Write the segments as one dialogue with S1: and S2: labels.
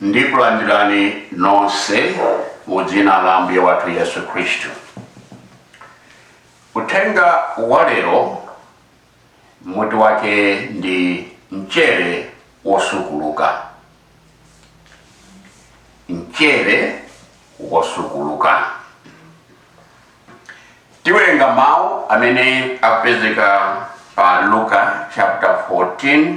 S1: Ndikulandirani nonse mu dzina la Ambuye wathu Yesu Khristu. Uthenga wa lero mutu wake ndi mchere wosukuluka. Mchere wosukuluka. Tiwerenga mawu amene apezeka pa Luka chapter 14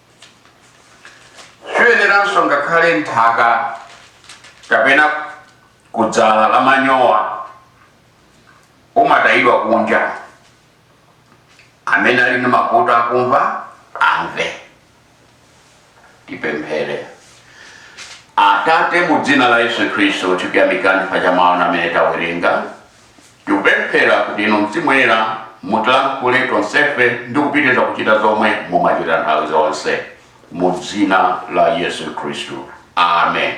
S1: siyeneranso ngakhale nthaka kapena kudzala la manyowa umatayidwa kunja amene ali ndi makutu akumva amve tipemphere atate mu dzina la yesu khristu tikuyamikani pa mawu amene tawerenga Tikupemphera kuti inu Mzimu Woyera mutilankhule tonsefe ndi kupitiriza kuchita zomwe mumachita nthawi zonse. Mu dzina la Yesu Khristu. Amen.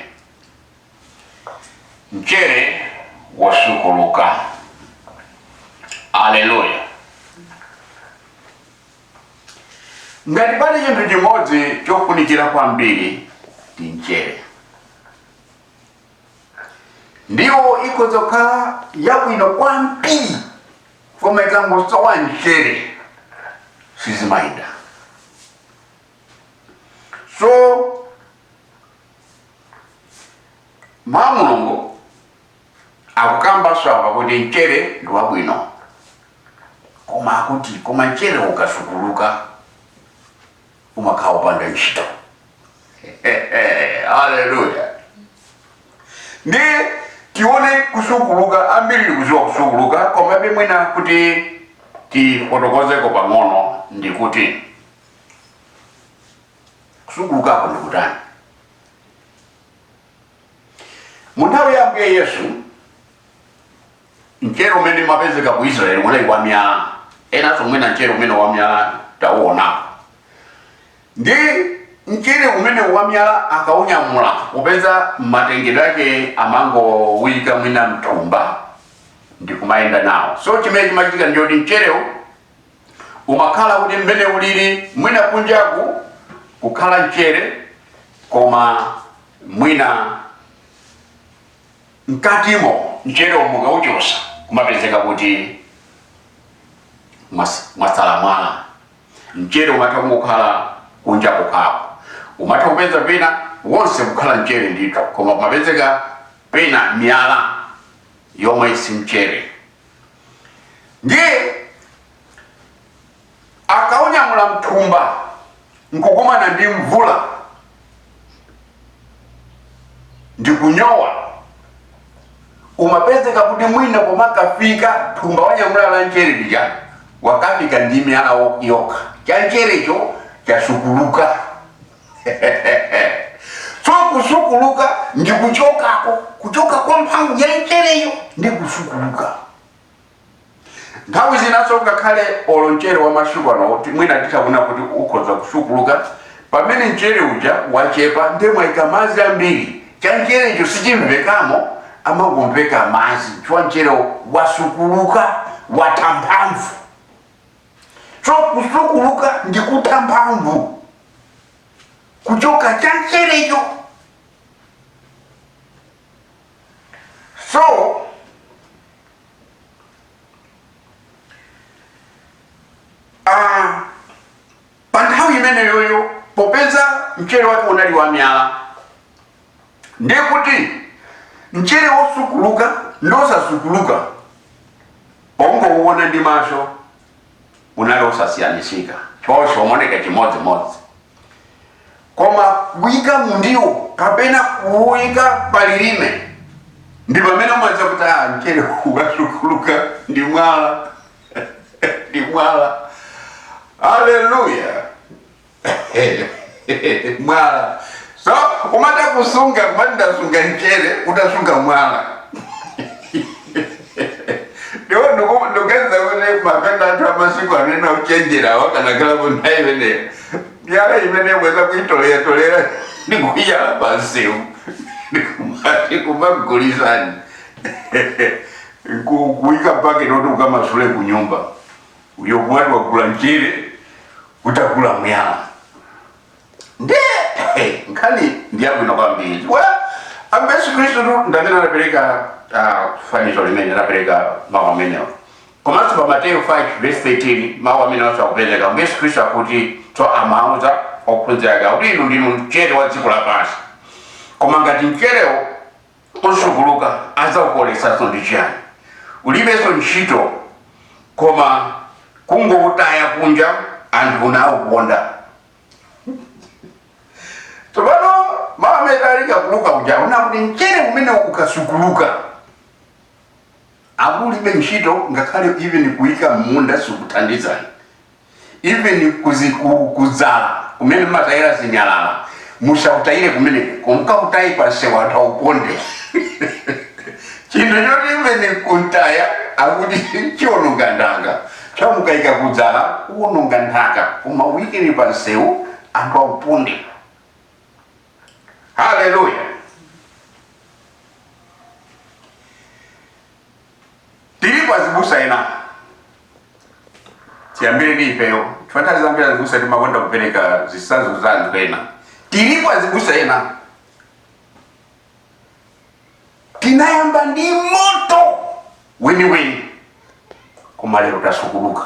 S1: Mchere wosukuluka. Aleluya. Ngati pali chinthu chimodzi chofunikira kwambiri ndi mchere. ndiwo ikhoza kukhala yabwino kwambiri koma ikangosowa mchere sizimayenda so mawu a mulungu akukambanso apa kuti mchere ndi wabwino koma akuti koma mchere ukasukuluka umakhala upanda ntchito haleluya ndi tione kusukuluka ambiri tikuziwa kusukuluka komabe mwina kuti tifotokozeko pang'ono ndikuti kusukulukako ndikutani mu nthawi ya ambuye yesu Mchere umene umapezeka ku Israel unali wa miyala, enanso mwina mchere umenewu wa miyala tauonapo. Ndi mchere umene wa miyala akaunyamula, popeza matengedwe ake amangowuyika mwina mthumba ndi kumayenda nawo. So chimene chimachitika ndi choti mcherewo umakhala kuti mmene ulili mwina kunjaku kukhala mchere koma mwina mkatimo mcherewo mukauchosa kumapezeka kuti mwas- mwasala mwala mchere umatha kungokhala kunja kokhako umatha kupeza pena wonse kukhala mchere ndithu koma kumapezeka pena miyala yomwe si mchere ndiye akaunyamula mthumba nkukumana ndi mvula ndikunyowa umapezeka kuti mwina pomakafika thumba wanyamula la nchere lija wakafika ndi miyala yokha cha ncherecho chasukuluka so kusukuluka ndi kuchokako kuchoka kwa mphamvu ya nchereyo ndi kusukuluka nthawi zinanso ngakhale olo mchere wa masiku ano mwina titaona kuti ukhoza kusukuluka pamene mchere uja wachepa ndiye mwaika madzi ambiri cha mcherecho sichimvekamo amangomveka madzi chifukwa mcherewo wasukuluka watha mphamvu so kusukuluka ndi kutha mphamvu kuchoka cha mcherecho so Ah, pa nthawi imeneyoyo popeza mchere wake unali wa miyala ndiye kuti mchere wosukuluka ndi wosasukuluka pongowuona ndi maso unali osasiyanitsika wonse umoneka chimodzimodzi koma kuika mundiwo kapena kuuika palilime ndi pamene umadziwa kuti mchere ukasukuluka ndi mwala ndi mwala haleluya mwala so umata kusunga n'kumati ndasunga mchere utasunga mwala ndiye ndikuganiza kuti mavenda athu amasiku ano ochenjerawa akanakhalapo nthawi imeneyo miyala imene bwenzi akuitoleratolera ndikuyala pansewu ndikumati kumagulitsani kuika mpaketi oti ukamasule kunyumba uyo kumati wagula mchere utagula mwala nde eh, nkhani ndiyabwino kwambiri ambuye yesu khristu tu ndamene anapereka ah, fanizo limene anapereka mawu amenewo komanso pa mateyu 5 verse 13 mawu amenewanso akupereka ambuye yesu khristu akuti so amauza ophunzira ake akuti inu ndinu mchere wa dziko lapansi koma ngati mcherewo usukuluka adzaukoleretsanso ndi chiyani? Ulibenso ntchito koma kungoutaya kunja anthu nauponda. Tsopano mawu amene ali kwa Luka uja ankati mchere umene ukasukuluka akulibe ntchito ngakhale even kuika mmunda sikuthandizani even kuzi, ku, kudzala kumene mmatayira zinyalala musautayire kumeneko komkautayani pansewu anthu auponde chinthu choti even kuntaya akuti nchiononga nthaka chamukaika kudzala uononga nthaka koma uikeni pansewu anthu auponde haleluya tilipo azibusa ena tiyambire ndi ifeyo chifukwa nthawi zambiri azibusa timakonda kupereka zitsanzo za anthu ena tilipo azibusa ena tinayamba ndi moto weniweni koma lero tasukuluka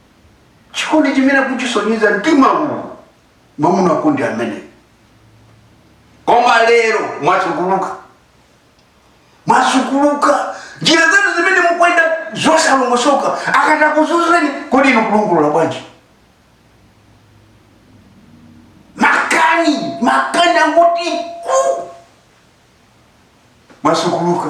S1: chikondi chimene kuchisonyeza mtima uwu mwamuna kundi amene koma lero mwasukuluka mwasukuluka njira zanu zimene mukwenda zosalongosoka akatakuzuzeni kodi inu kulungulula bwanji makani makani angoti mwasukuluka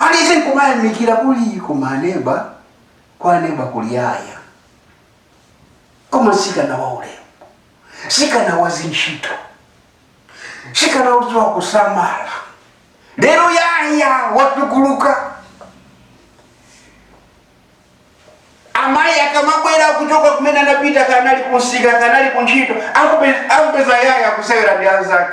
S1: aliyense nkumayamikira kuti koma aneba kwa aneba kuli yaya koma ntsikana wa ulemu ntsikana wa zintchito ntsikana wodziwa kusamala lero yaya wasukuluka amayi akamabwera kuchoka kumene anapita kaya ndi kunsika kaya ndi kuntchito akupeza yaya kusewera ndi anzake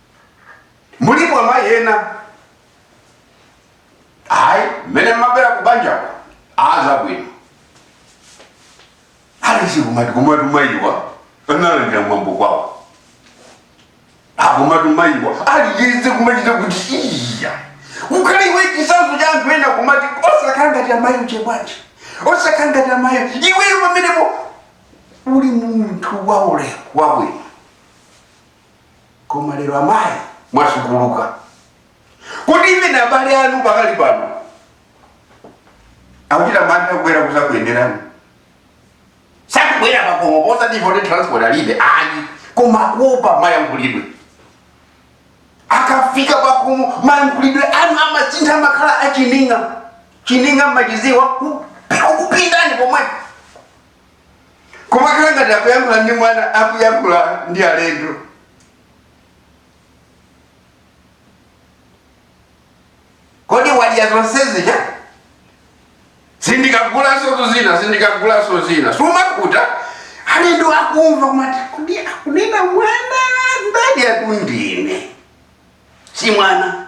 S1: mulipo amayi ena mmene mmabwera kubanjako azabwino alichikumati kumati amayiwa analandira mwambo kwawo akumati amayiwa aliyese kumachita kuti iya ukhale iwe chisanzo cha anthu ena kumati osakhala ngati amayi uje bwanji osakhala ngati amayi iweyo pamenepo uli munthu waulemu wabwino koma lero amayi mwasukuluka kuti even abale anu pakali pano akuchita mantha kubwera kuzakuyenderani sakubwera pakomo osati poti transport alibe ayi koma akuopa mayankhulidwe akafika pakomo mayankhulidwe anu amasintha makhala achininga chininga mmaziwa kupindani pomwepo kumakhala ngati akuyankhula ndi mwana akuyankhula ndi alendo kodi wadya zonsezi ija sindikagulanso tu zina sindikagulanso zina zumapeza alendo akumva kumati kodi akunena mwanayu ndani akundinena si mwana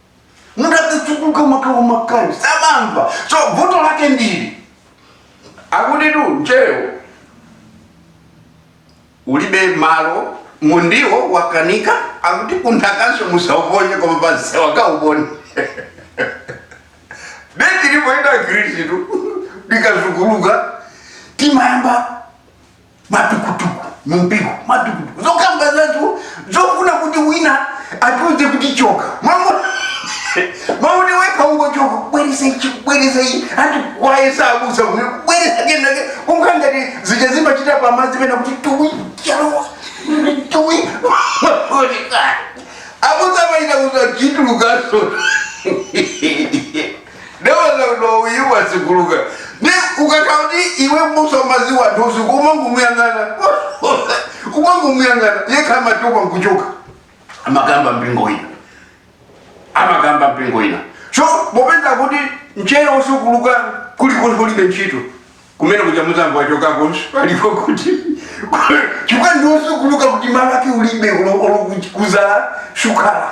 S1: munthu akasukuluka makalo makali samamva so vuto lake ndi ili akutitu mcherewo ulibe malo mundiwo wakanika akuti kunthakanso musauponye koma pansi akauponde beti lipoita khristu likasukuluka timayamba matukutuku mumpingo matukutuku zokamba zathu zofuna kuti wina atiuze kuti choka Mwamu- mwamuti wekha ungochoka kubweresa ichi kubweresa ichi ati wayesa abusa kuno kubweresa kenake kumka ngati zija zimachita pamadzi pena kuti tuwi chalowa tuwi abusa amaita kuti chitulukanso ndeweza kuti uyu wasukuluka ne ukakhala kuti iwe m'busa umaziwa anthu usiku umangomuyang'ana umangomuyang'ana yekha amatupa nkuchoka amakamba mpingo ina amakamba mpingo ina so popeza kuti mchere osukuluka kuli kunthu ulibe ntchito kumene kuja muzambo wachokakonso palipo kuti chifukwa ndi osukuluka kuti malo ake ulibe olo olo kudzala shukala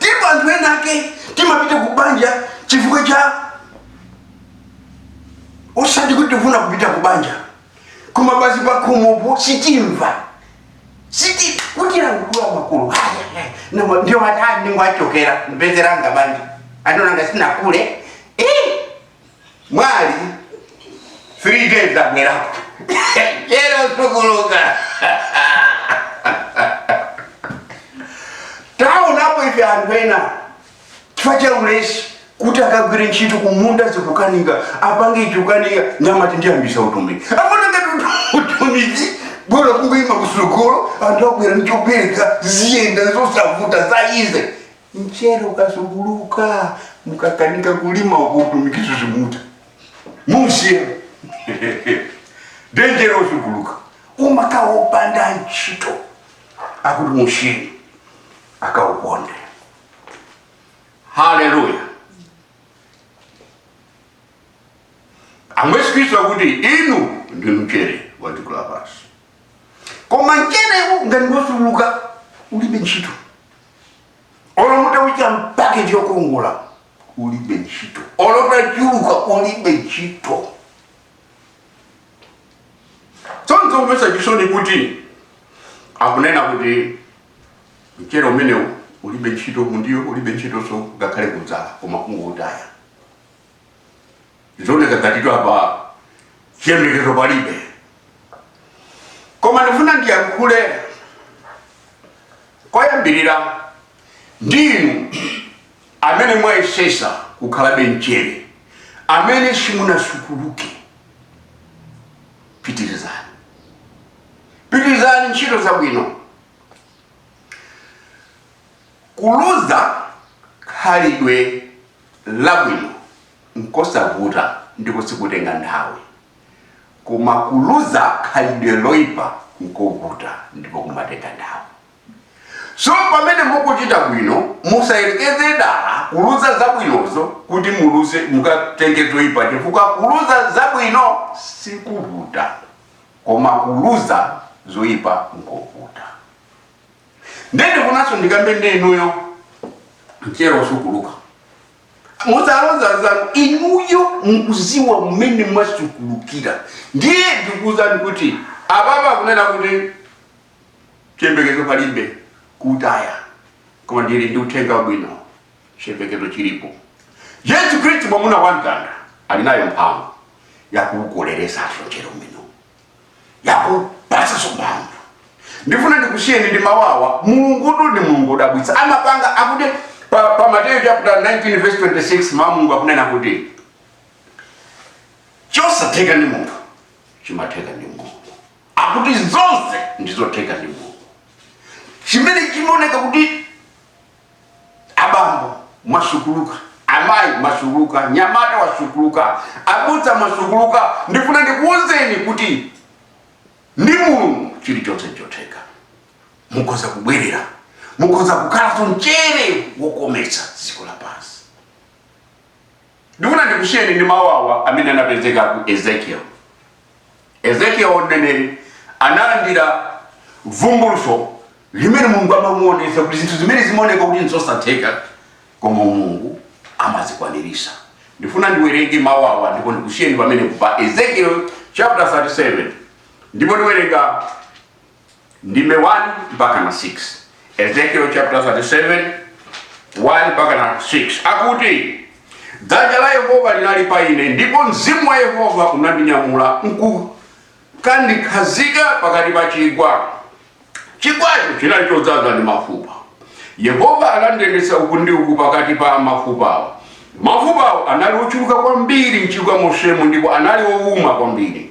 S1: ndipo anthu ena ake timapita ku banja chifukwa cha osati kuti tifuna kupita ku banja koma basi pakhomopo sitimva siti kuti languliwa makulu haya namo ndiwo atani ngwachokera mbezeranga banja anonanga sinakule eh mwali 3 days abwerako mchere osukuluka taonapo ife anthu ena chifukwa cha ulesi kuti akagwire ntchito kumunda zikukanika apange ichi chikukanika nde amati ndiyambisa utumiki amaona ngati utumiki bola kungoima kutsogolo anthu abwera ndichopereka ziyenda zosavuta za easy Mchere ukasukuluka mukakanika kulima uko utumikinso simuutha musiya nde mchere osukuluka umakhala opanda ntchito akuti mushini akauponde haleluya Ambuye Yesu Khristu akuti inu ndi mchere wa dziko lapansi koma mcherewu ngati ngosukuluka ulibe ntchito olo mutauika mpaketi yokongola ulibe ntchito olo utachuluka ulibe ntchito so nzomvetsa chisoni kuti akunena kuti mchere umenewu ulibe ntchito mundiwo ulibe ntchitonso ngakhale kudzala koma kungoutaya zioneka ngatitu apa chiyembekezo palibe koma ndifuna ndiyankhule koyambirira ndinu amene mwayesesa kukhalabe mchere amene simunasukuluke pitirizani pitirizani ntchito zabwino kuluza khalidwe labwino nkosavuta ndipo sikutenga nthawi koma kuluza khalidwe loipa nkovuta ndipo kumatenga nthawi so pamene mukuchita bwino musayerekeze dala kuluza zabwinozo kuti muluze mukatenge zoipa chifukwa kuluza zabwino sikuvuta koma kuluza zoipa nkovuta nde ndikufunanso ndikambe ndi inuyo mchere wosukuluka muzaloza zanu inuyo mukuziwa mmene mwasukulukira ndiye ndikuuzani kuti apatu akunena kuti chiyembekezo palibe kutaya koma ndili ndi uthenga wabwino chiyembekezo chilipo yesu khristu mwamuna wa mtanda ali nayo mphamvu yakuukoleresanso mchere umene yakupasanso mphamvu ndifuna ndikusiyeni ndi mawu awa mulungutu ndi mulungu wodabwitsa amapanga akuti pa, pa mateyu chapter 19 verse 26 mawu a mulungu akunena kuti chosatheka ndi munthu chimatheka ndi mulungu akuti zonse ndizotheka ndi mulungu chimene chimaoneka kuti Abambo mwasukuluka, amayi mwasukuluka, nyamata wasukuluka, abusa mwasukuluka, ndifuna ndikuuzeni kuti ndi Mulungu chilichonse nchotheka. Mukhoza kubwerera, mukhoza kukhalanso mchere wokometsa dziko lapansi. Ndifuna ndikusiyeni ndi mawu awa amene anapezeka ku Ezekiel. Ezekiel mneneri analandira vumbulutso limene Mulungu amamuonesa kuti zinthu zimene zimaoneka kuti nzosatheka koma Mulungu amazikwanirisa. Ndifuna ndiwerenge mawu awa ndipo ndikusiyeni pamene pa Ezekiel chapter 37 ndipo ndiwerenga ndime 1 mpaka na 6 ezekiel chapter 37 1 mpaka na 6 akuti dzanja la yehova linali pa ine ndipo mzimu wa yehova unandinyamula nkukandikhazika pakati pa chigwa chigwacho chinali chodzaza ndi mafupa yehova anandiyendetsa uku ndi uku pakati pa mafupawo mafupawo anali ochuluka kwambiri mchigwa monsemo ndipo anali owuma kwambiri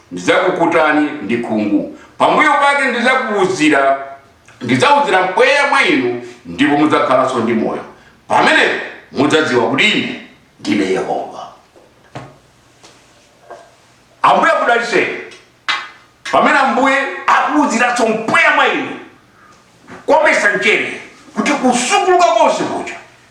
S1: ndidzakukutani ndi khungu. Pambuyo pake ndidzakuuzira, ndidzauzira mpweya mwa inu, ndipo mudzakhalanso ndi moyo. Pamenepo mudzadziwa kuti ine ndine Yehova. Ambuye akudalitseni pamene Ambuye akuuziranso mpweya mwa inu kukometsa mchere kuti kusukuluka konse kuja